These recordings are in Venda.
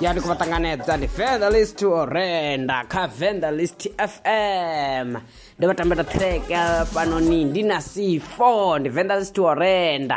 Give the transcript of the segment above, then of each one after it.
ya ndi khou vha ṱanganedza ndi fenderlist to renda kha venderlist fm ndi vha tambela track ya fhanoni ndi na c4 ndi venderlist to renda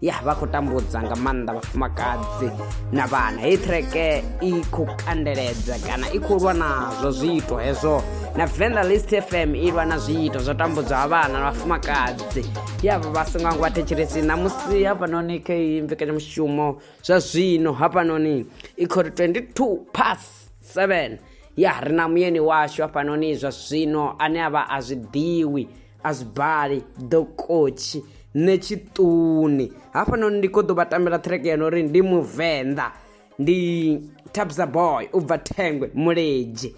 ya vha khou tambudza nga maanḓa vhafumakadzi na vhana heyi treke i khou kandeledza kana i khou lwa nazwo zwiito hezwo na venda list fm i lwa na zwiito zwo tambudzwa ha vhana na vhafumakadzi yavho vha songo ngo vhathetshelesi ṋamusi hafhanoni kha iyi mbekanyamushumo zwa zwino hafhanoni i khou ri 22 pas 7 ya ri na muyeni washu hafhanoni zwa zwino ane a vha a zwi ḓiwi a zwi bali ḓokotshi nṋe tshiṱuni hafhanoni ndi kho ḓo vha tambela track ya no uri ndi muvenḓa ndi tabza boy u bva thengwe muledzhe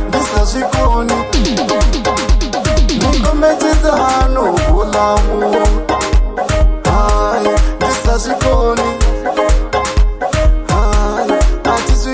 ndi sa zwikoni mukombetshedza hano vula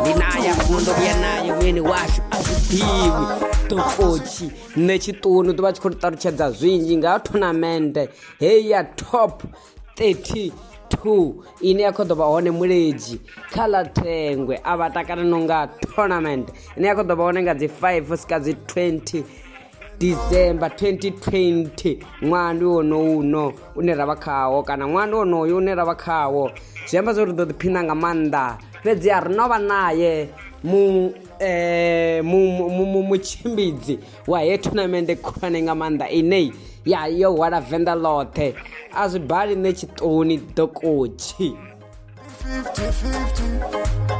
ndinayo fundo kuya nayo mwini washu azvipiwi tokochi nechitunhu tova tshi khou ri ṱalutshedza zwinzhi nga tournamende heyi ya top 32 ine ya khou ḓo vha hone muledzi kha ḽa thengwe a vha takalano nga tournament ine ya khou ḓo vha hone nga dzi 5 sika dzi 20 december 2020 ṅwaha ndi wonowu uno une ra vha khawo kana ṅwaha ndi wonoyo une ra vha khawo zwi amba zwo ri ḓo ḓiphina nga maanḓa fhedzi a ri no vha naye mu eh, mu- mu- mu- mu- mutshimbidzi wa he tournamende khulwane nga maanḓa inei ya yo hwala venḓa ḽoṱhe a zwi bali nṋe tshiṱoni dokotshi 50-50.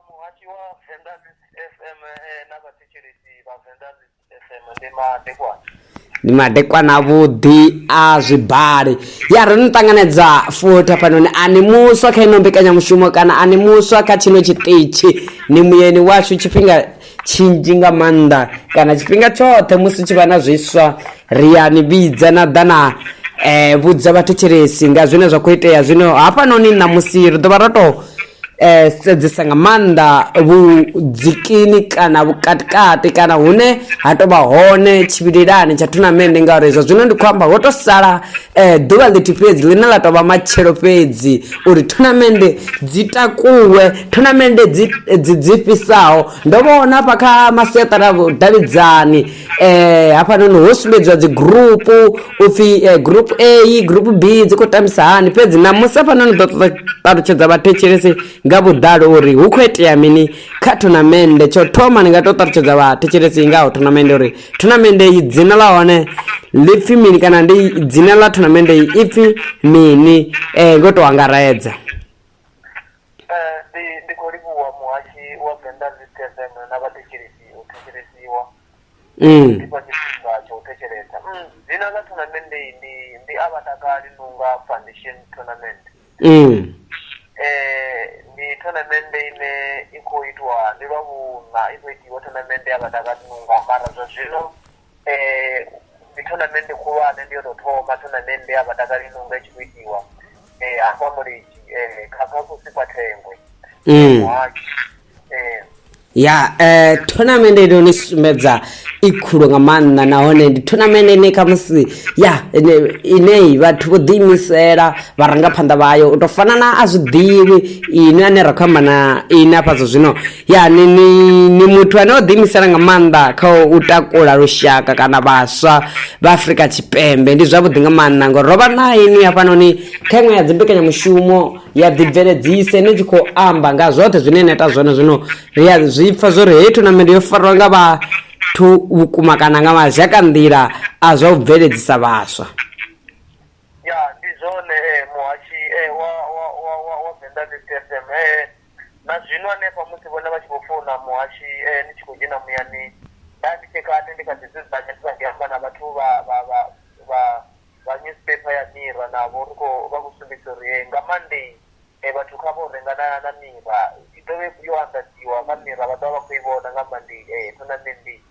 Muhasho wa Venḓa fm eh, na vhathetshelesi vha venḓa fm ndi madekwana ndi madekwana avhuḓi a zwibali ya ri no ṱanganedza futhi hafhanoni a ni muswa kha ino mbekanyamushumo kana a ni muswa kha tshino tshiṱitshi ni muyeni washu tshifhinga tshinzhi nga maanḓa kana tshifhinga tshoṱhe musi tshi vha na zwiswa ri ya ni vhidza na ḓa na um vhudza vhathetshelesi nga zwine zwa khou itea zwino hafhanoni ṋamusi ri ḓo vha ro tou eh, sedzesa nga maanḓa vhudzikini kana vhukatikati kana hune ha tovha hone tshivhilelani tsha thunamende ngauri zwa zwino ndi khou amba ho to sala eh, ḓuvha ḽithihi fhedzi ḽine ḽa tovha matshelo fhedzi uri thunamende dzi takuwe thunamende dzi dzi dzi fhisaho ndo vhona hafha kha masiaṱari a vhudavhidzani eh hafhanoni ho sumbedziwa dzi group upfi eh, group A group B dzi khou tambisa hani fhedzi na musi hafhanoni ḓo ṱoḓa ṱalutshedza vhathetshelesi nga vhuḓalo uri hu khou itea mini kha thonamende tsho thoma ni nga to ṱalutshedza vhathetshelesi nga ho thonamende uri thonamende i dzina ḽa hone ḽi pfi mini kana ndi dzina ḽa thonamende i pfi mini eh ngo to angaredza Eh, ndi ndi khou livhuwa muhashi wa venḓa zit fm na vhathetshelesi u thetshelesiwa Mm. ndi fha tshifhinga tsha u thetshelesa Mm, dzina ḽa tournament iyi ndi ndi a vha takali nunga foundation tournament Mm. eh ndi tournament ine i khou itwa ndi lwa vhuṋa i khou itiwa tournament ya vhatakali nunga mara zwa zwino ndi thonamende khulwane ndi yo tou thoma thonamende ya vhatakali ino nga i tshi khou itiwa eh, hafha mulidzi eh, kha kha kusi kwa thengwe Mm. muhasho eh, ya eh, tournament ino ni sumbedza i khulu nga maanḓa nahone ndi tournament ine khamusi ya ine- ineyi vhathu vho ḓiimisela vharangaphanḓa vhayo u tou fana na a zwi ḓivhi ine ane ra khou amba na ine afha zwa zwino Ya ni ni ni muthu ane o ḓi imisela nga maanḓa kha u takula lushaka kana vhaswa vha Afrika Tshipembe ndi zwavhuḓi nga maanḓa ngori rovha na ini hafhanoni kha iṅwe ya dzimbekanyamushumo ya ḓi bveledzisa ine tshi khou amba nga zwoṱhe zwine na ita zwone zwino ri a zwi pfha zwo ri heyi thonamende yo fariwa nga vhathu vhukuma kana nga mazhaka nḓila a zwa u bveledzisa vhaswa ya ndi zwone eh, muhashi eh, wa wa wa wa wa venḓa ndi tfm eh. na zwino hanefha musi vhone vha tshi khou founa muhashi eh, ni tshi khou dzhena muyani nda ndi tshe kale ndi kha ḓi dzudzanya ndi kha ḓi amba na vhathu vha vha vha vha vha newspaper ya mira navho ri khou vha khou sumbedzisa uri eh, nga monday eh, vhathu kha vho renga na na mira i ḓovhe yo anḓadziwa kha mira vha ḓovha vha khou i vhona nga monday eh, thonamennde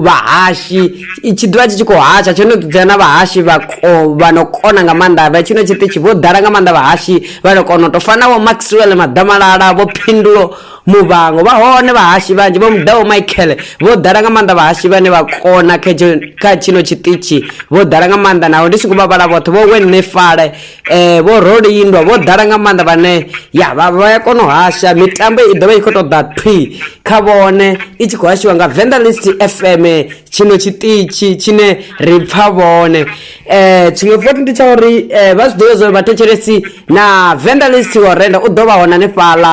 vhahashi tshi ḓivha tshi tshi khou hasha tsho no ḓidzea na vhahashi vha vha no kona nga maanḓa vha tshino tshiṱitshi vho ḓala nga maanḓa vhahashi vha no kona u tou fana vho maxwell maḓamalala vho phindulo muvhango vha hone vhahashi vhanzhi vho muḓaho michael vho ḓala nga maanḓa vhahashi vhane vha kona kha tshino tshiṱitshi vho ḓala nga maanḓa naho ndi songo vha vhala vhoṱhe vho wenefale eh vho rolindwa vho ḓala nga maanḓa vhane ya vha vha ya kona u hasha mitambo i ḓovha i khou ṱoḓa thwi kha vhone i tshi khou hashiwa nga venda list fm tshino tshiṱitshi tshine ri pfa vhone eh tshiṅwe futhi ndi tsha uri eh, vha zwi ḓivhe zwa uri vhathetshelesi na venda list wa renda u ḓo vha hone hanefhaḽa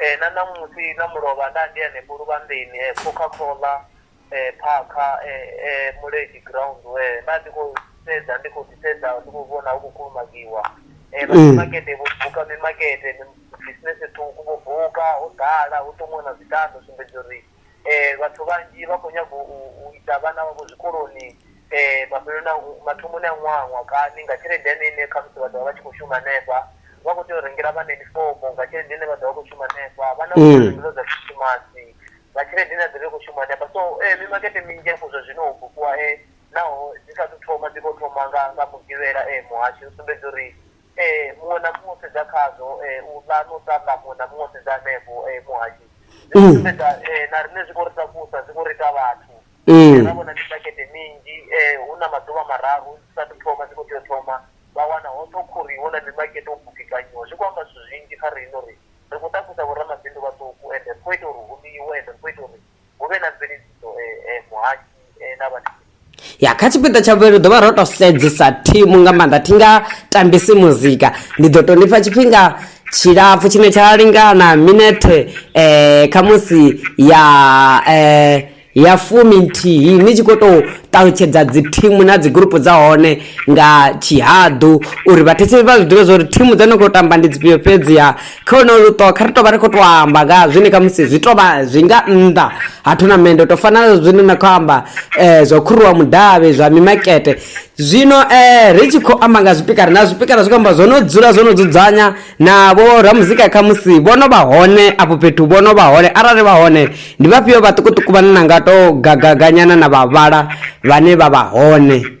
Ee, na ṋamusi na mulovha nda ndi hanefho luvhanḓeni coca cola phakha mulenzhe ground nda ndi khou sedza ndi khou ḓi sedza ndi khou vhona hu khou kulumagiwa makete vho buka mimakete business ṱhukhu vho buka ho ḓala hu ṱomiwa na zwikambi u sumbedza uri vhathu vhanzhi vha khou nyaga u isa vhana vhavho zwikoloni mafheleloni a mathomoni a ṅwaha ṅwaha kani nga tshelede ine ine khamusi vha ḓovha vha tshi kho shuma hanefha vha kho tea u rengela vhana yunifomo nga tshelede ine vha ḓovha vha kho shuma hanefha vhana zwiḽiwa zwa khisimusi nga tshelede ine ya ḓovha i kho shuma hanefha so mimakete minzhi hafhu zwa zwino ho bukiwa naho dzi sa thu thoma dzi kho thoma nga nga mugivhela muhasho u sumbedza uri Ee, muṅwe na muṅwe o sedza khazwo, u ḽa na u tamba, muṅwe na muṅwe o sedza hanefho, Muhashi. Zwi khou sumbedza na riṋe zwi khou ri takusa, zwi khou ri ita vhathu. Ra vhona mimakete minzhi, hu na maḓuvha mararu zwi sa athu thoma, zwi khou tea u thoma. Vha wana hoṱhe ho khuriwa, hu na mimakete ho bukekanyiwa. Zwi khou amba zwithu zwinzhi kha riṋe uri ri khou takusa vho ramabindu vhaṱuku ende ri khou ita uri hu ḽiwe ende ri khou ita uri hu vhe na mveledziso muhaki na vha ya kha tshipiḓa tsha vhuvhili ḓo vha ro to sedzesa thimu nga maanḓa thi nga tambisi muzika ndi ḓo to nifha tshifhinga tshilapfu tshine tsha lingana minethe um khamusi ya um ya fumi nthihi ni tshi khou tou ṱalutshedza dzi thimu na dzi gurupu dza hone nga tshihaḓu uri vhathetshelesi vha zwi ḓivhe zwa uri thimu dza no khou tamba ndi dzifhio fhedziha khono luṱo kha ri tovha ri khou to amba nga zwine kha musi zwi tovha zwi nga nnḓa ha thonamende to fana na zwine na khou amba um zwa khuruwa mudavhi zwa mimakete zwino um ri tshi khou amba nga zwipikara na zwipikara zwi khou amba zwo no dzula zwo no dzudzanya na vho ramuzika kha musi vho no vha hone afho fhethu vho no vha hone arali vha hone ndi vhafhio vhaṱukuṱuku vhane na nga to gagaganyana na vhavhala vhane vha vha hone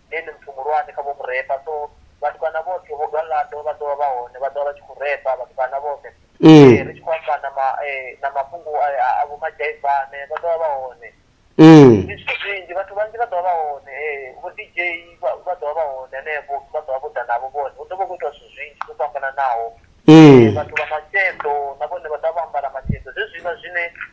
ndi ene muthu muhulwane kha vho mu repa so vhatukana vhoṱhe vho galaḓo vha ḓovha vha hone vha ḓovha vha tshi khou repa vhatukana vhoṱhe ri tshi khou amba na ma na mafhungo a vho madzhaivane vha ḓovha vha hone ndi zwithu zwinzhi vhathu vhanzhi vha ḓovha vha hone vho dj vha ḓovha vha hone hanefho vha ḓovha vho ḓa navho vhone hu ḓovha hu kho itiwa zwithu zwinzhi zwo fhambananaho vhathu vha masheḓo na vhone vha ḓovha vho ambara masheḓo zwezwiḽa zwine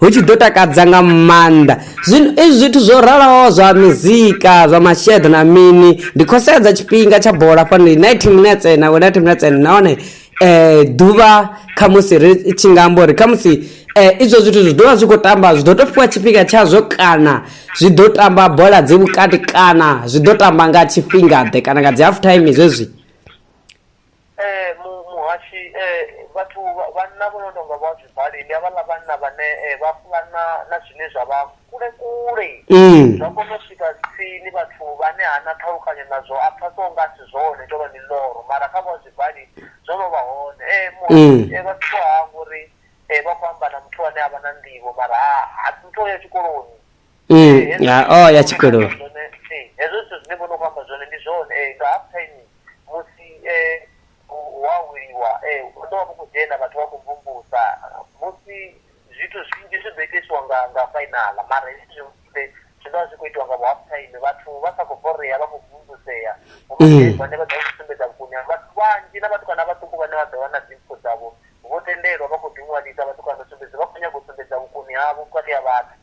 Hu tshi ḓo takadza nga maanḓa. Zwino izwi zwithu zwo ralaho zwa mizika, zwa masheḓo na mini, ndi khou sedza tshifhinga tsha bola fhano 90 minutes na 90 minutes nahone eh ḓuvha kha musi ri tshi nga amba uri kha musi eh izwo zwithu zwi ḓovha zwi khou tamba zwi ḓo to fhiwa tshifhinga tshazwo kana zwi ḓo tamba bola dzi vhukati kana zwi ḓo tamba nga tshifhinga ḓe kana nga dzi half time zwezwi Ee, mu, muhashi, ee, vhathu vha- vhanna vho no tou nga vho Azwibali, ndi havhaḽa vhanna vhane eh, vha fulana na zwine zwa vha kule kule, Mm. zwa kona u swika tsini vhathu vhane ha na ṱhalukanyo nazwo a pfha so nga a si zwone tou vha miḽoro mara kha vho Azwibali zwo no vha hone eh, Mm. muhashi, eh, vhathu vha hangwa uri eh, vha khou amba na muthu ane a vha na nḓivho mara ha ha muthu o ya tshikoloni Mm, ya oh ya tshikolo Zwone, eh, hezwo zwithu zwine vhono kwamba zwone ndi zwone eh, nga half time musi eh, u- wa wiliwa eh, u ḓo vha vhu khou dzhena vhathu vha khou mvumvusa musi zwithu zwinzhi zwi ḓo itiswa nga nga fainala mara hezwi zwiṅwe zwi zwi ḓo vha zwi khou itiwa nga vhu half time vhathu vha sa khou borea vha khou mvumvusea Mm. vhane vha ḓo vha sumbedza vhukoni ha vhathu vhanzhi na vhatukana vhaṱuku vhane vha ḓo vha na dzimpfo dzavho vho tendelwa vha khou ḓiṅwalisa vhatukana sumbedza vha khou nyanga u sumbedza vhukoni havho vhukati ha vhathu